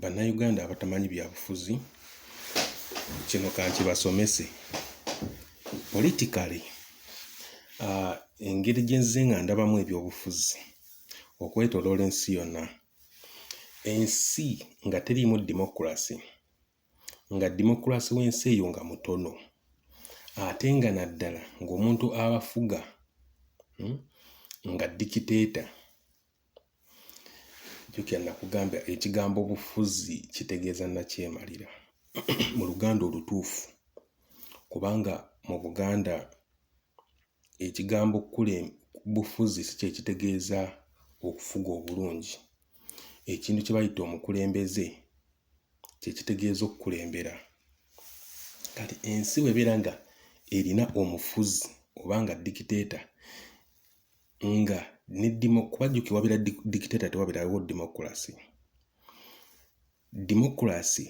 bannayuganda abatamanyi byabufuzi kino kankibasomese politikale ah, engeri gyenze nga ndabamu ebyobufuzi okwetoloola ensi yonna ensi nga teriimu demokulasi nga demokulasi w'ensi eyo nga mutono ate nga naddala ng'omuntu abafuga hmm, nga dikiteeta jukira nakugamba ekigambo bufuzi kitegeeza nakyemalira mu luganda olutuufu kubanga mu buganda ekigambo kule bufuzi si kyekitegeeza okufuga obulungi ekintu kye bayita omukulembeze kyekitegeeza okukulembera kati ensi bwebeera nga erina omufuzi oba nga dikiteeta nga ne democracy wabira dictator tewabirawo democracy democracy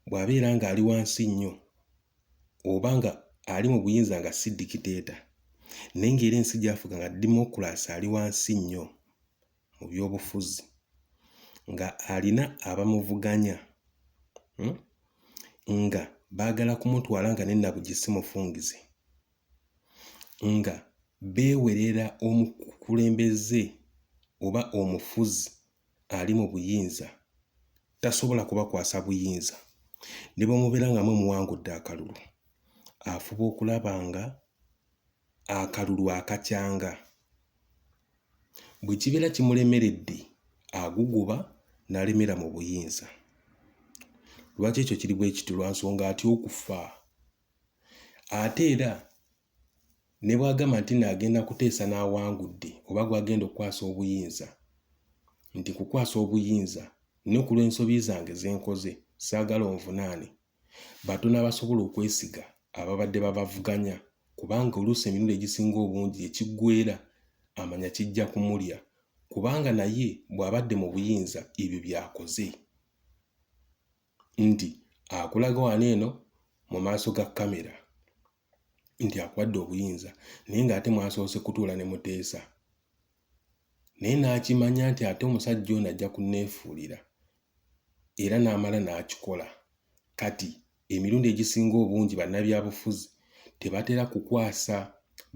bwabeera nga ali wansi nnyo oba nga ali mu buyinza nga si dikiteeta naye ngaera ensi gyafuga nga demokulasi ali wansi nnyo mu byobufuzi nga alina abamuvuganya hmm? nga baagala kumutwala nga nenabugisimufungize nga beewerera omukulembeze oba omufuzi ali mu buyinza tasobola kubakwasa buyinza ne bamubeera nga mwe muwangudde akalulu afuba okulaba nga akalulu akakyanga bwe kibeera kimulemeredde aguguba n'alemera mu buyinza lwaki ekyo kiri bwe kityo lwa nsonga atya okufa ate era ne bw'agamba nti no agenda kuteesa n'awangudde oba gw'agenda okukwasa obuyinza nti kukwasa obuyinza ne ku lw'ensobi zange ze nkoze saagala onvunaane batono abasobola okwesiga ababadde babavuganya kubanga oluusi emirundi egisinga obungi ekiggwera amanya kijja kumulya kubanga naye bw'abadde mu buyinza ebyo byakoze. nti akulaga wano eno mu maaso ga kamera nti akuwadde obuyinza naye ng'ate mwasoose kutuula ne muteesa naye n'akimanya nti ate omusajja ono ajja kunneefuulira era n'amala n'akikola kati emirundi egisinga obungi bannabyabufuzi tebatera kukwasa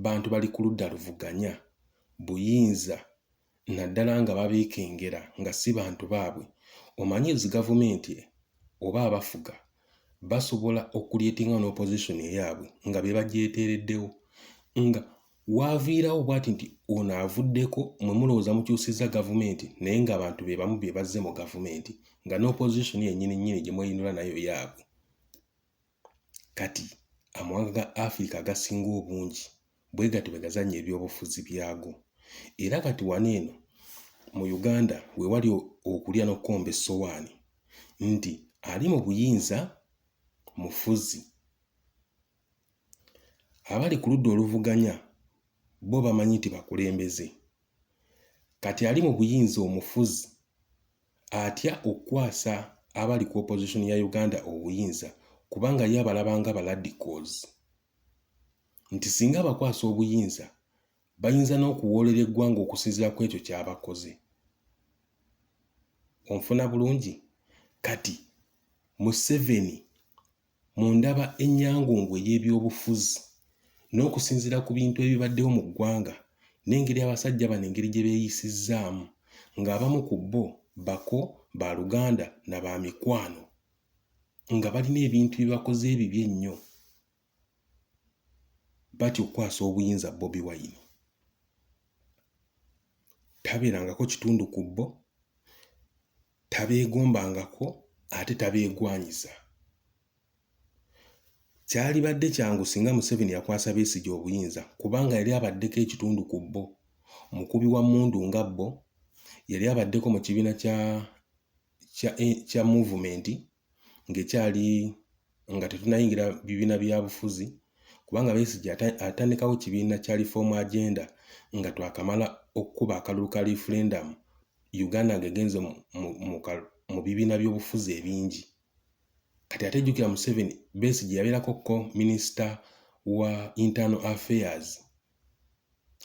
bantu bali ku ludda luvuganya buyinza naddala nga babeekengera nga si bantu baabwe omanyi ezi gavumenti oba abafuga basobola okulyetinga n'opposition eyaabwe nga be bagyeteereddewo nga waaviirawo bwati nti ono avuddeko mwe mulowooza mukyusizza gavumenti naye ng'abantu be bamu be bazze mu gavumenti nga n'opposition yennyini nnyini gye mweyinula nayo yaabwe Kati, amawanga ga Afirika agasinga obungi bwe gatyo bwe gazannya ebyobufuzi byago. Era kati wano eno mu Uganda we wali okulya n'okukomba essowaani nti ali mu buyinza mufuzi. Abali ku ludda oluvuganya bo bamanyi nti bakulembeze. Kati ali mu buyinza omufuzi atya okukwasa abali ku opposition ya Uganda obuyinza kubanga ye abalaba nga baladicals nti singa abakwasa obuyinza bayinza n'okuwoolera eggwanga okusinzira ku ekyo kyabakoze onfuna bulungi kati museveni Mu ndaba ennyangungu ey'ebyobufuzi n'okusinziira ku bintu ebibaddewo mu ggwanga n'engeri abasajja bano engeri gye beeyisizzaamu ng'abamu ku bo bako, ba luganda na ba mikwano nga balina ebintu bye bakoze ebibi ennyo batya okukwasa obuyinza Bobi Wine. Tabeerangako kitundu ku bo tabeegombangako ate tabeegwanyiza. Kyalibadde kyangu singa Museveni yakwasa Besigye obuyinza kubanga yali abaddeko ekitundu ku bbo, mukubi wa mmundu nga bbo, yali abaddeko mu kibiina kya, kya, eh, kya muvumenti ng'ekyali nga tetunayingira bibiina bya bufuzi kubanga Besigye atandikawo kibiina kya Reform Agenda nga twakamala okukuba akalulu ka referendum Uganda ng'egenze mu bibiina by'obufuzi ebingi kati ate jjukira Museveni Besigye yabeerako ko minisita wa internal affairs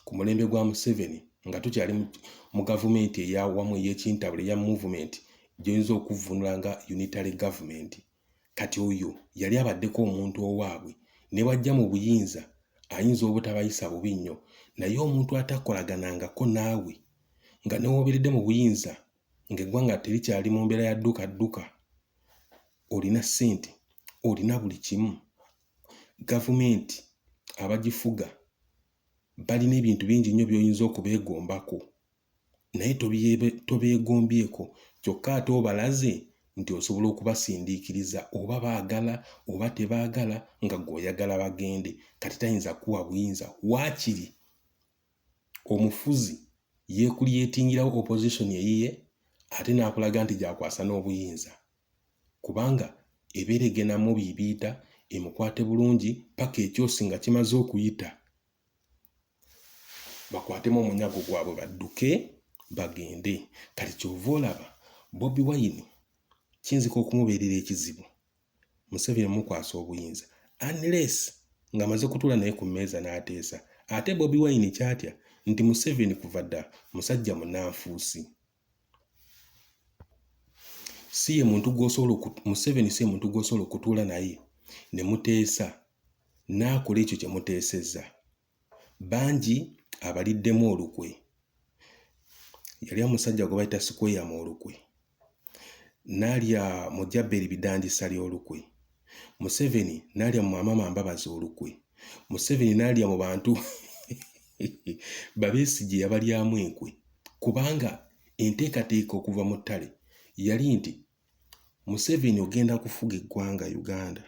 ku mulembe gwa museveni nga tukyali mu gavumenti eyawamu eyekintabula eya movement gyoyinza okuvvunula nga unitary government kati oyo yali abaddeko omuntu owaabwe ne bwajja mu buyinza ayinza obutabayisa bubi nnyo naye omuntu atakolaganangako naawe nga newoberedde mu buyinza ng'eggwanga terikyali mu mbeera ya dduka dduka olina ssente olina buli kimu gavumenti abagifuga balina ebintu bingi nnyo by'oyinza okubeegombako naye tobeegombyeko kyokka ate obalaze nti osobola okubasindiikiriza oba baagala oba tebaagala nga gweoyagala bagende kati tayinza kuwa buyinza waakiri omufuzi yekulyetingirawo opposition eyiye ate n'akulaga nti gyakwasa n'obuyinza kubanga ebeera egenamu biibiita emukwate bulungi paka ekyosi nga kimaze okuyita bakwatemu omunyago gwabwe badduke bagende kati kyova olaba bobi wine kiyinzika okumubeerera ekizibu Museveni mukwasa obuyinza unless ng'amaze kutuula naye ku mmeeza n'ateesa. Ate Bobi Wine kyatya nti Museveni kuva dda musajja munanfuusi. Si ye muntu gw'osobola Museveni si ye muntu gw'osobola okutuula naye ne muteesa n'akola ekyo kye muteesezza. bangi abaliddemu olukwe yali omusajja gwe bayita sikweya mu olukwe nalya mu jaberi bidanjisa lyolukwe museveni nalya mu amama mbabazi olukwe museveni nalya mu bantu babesigye yabalyamu enkwe kubanga enteekateeka okuva mu ttale yali nti museveni ogenda kufuga eggwanga uganda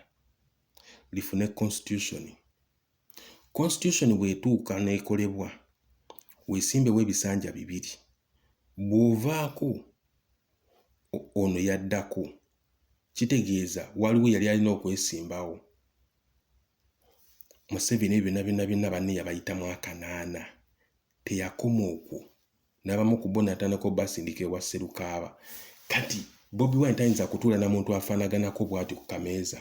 lifune constitution Constitution bwetuuka n'ekolebwa weesimbewo ebisanja bibiri bw'ovaako ono yaddako kitegeeza waliwo yali alina okwesimbawo Museveni ebyo byonna byonna byonna banne yabayitamu akanaana teyakoma okwo n'abamu ku bo natandika obasindika ewa Sserukaaba kati Bobi Wine tayinza kutuula na muntu afaanaganako bw'ati ku kameeza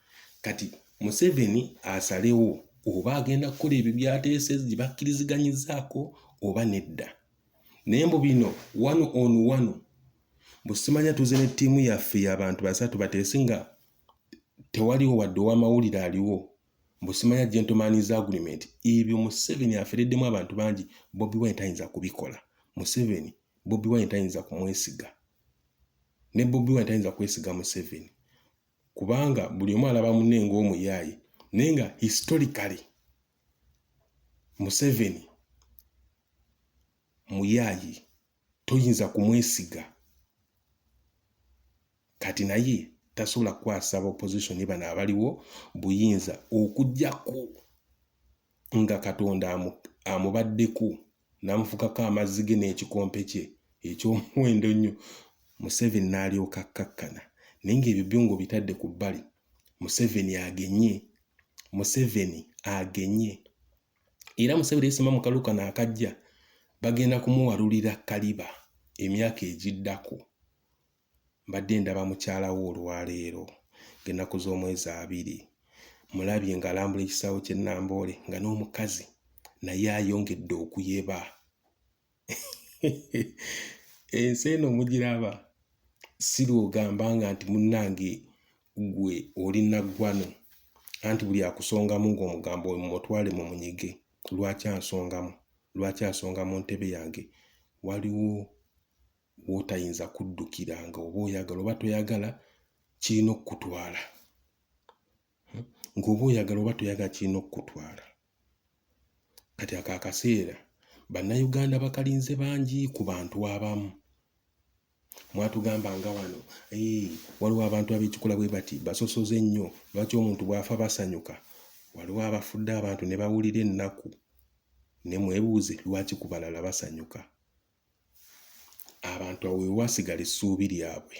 kati museveni asalewo oba agenda kukola ebyo byateese gye bakkiriziganyizaako oba nedda naye mbu bino wano on wano busimanya tuze ne ttiimu yaffe yabantu basatu bateese nga tewaliwo wadde owamawulire aliwo mbusimanya gentlemans agreement ebyo museveni afereddemu abantu bangi bobi wine tayinza kubikola museveni bobi wine tayinza kumwesiga ne bobi wine tayinza kwesiga museveni kubanga buli omu alaba munne ng'omuyaaye naye nga historically museveni muyaaye toyinza kumwesiga kati naye tasobola kukwasa ba opposition bano abaliwo buyinza okujjako nga katonda amubaddeko n'amufukako amazzi ge n'ekikompe kye eky'omuwendo ennyo museveni n'alyoka akkakkana naye ng'ebyo byo ng'obitadde ku bbali museveni agenye museveni agenye era museveni yesima mu kalu kano akajja bagenda kumuwalulira kaliba emyaka egiddako mbadde ndaba mukyala wo olwaleero ng'ennaku z'omwezi abiri mulabye ng'alambula ekisaawe ky'e Namboole nga n'omukazi naye ayongedde okuyeba ensi eno mugiraba si lwogamba nga nti munnange gwe oli naggwano anti buli akusongamu ng'omugambo we mumutwale mu munyige lwaki ansongamu lwaki asonga mu ntebe yange waliwo w'otayinza kuddukira nga oba oyagala oba toyagala kirina okukutwala hmm? ng'oba oyagala oba toyagala kirina okukutwala kati ako akaseera bannayuganda bakalinze bangi ku bantu abamu mwatugamba nga wano eh, waliwo abantu abekikola bwe bati basosoze ennyo lwaki omuntu bw'afa basanyuka waliwo abafudde abantu ne bawulira ennaku ne mwebuuze lwaki ku balala basanyuka abantu awo wewasigala essuubi lyabwe.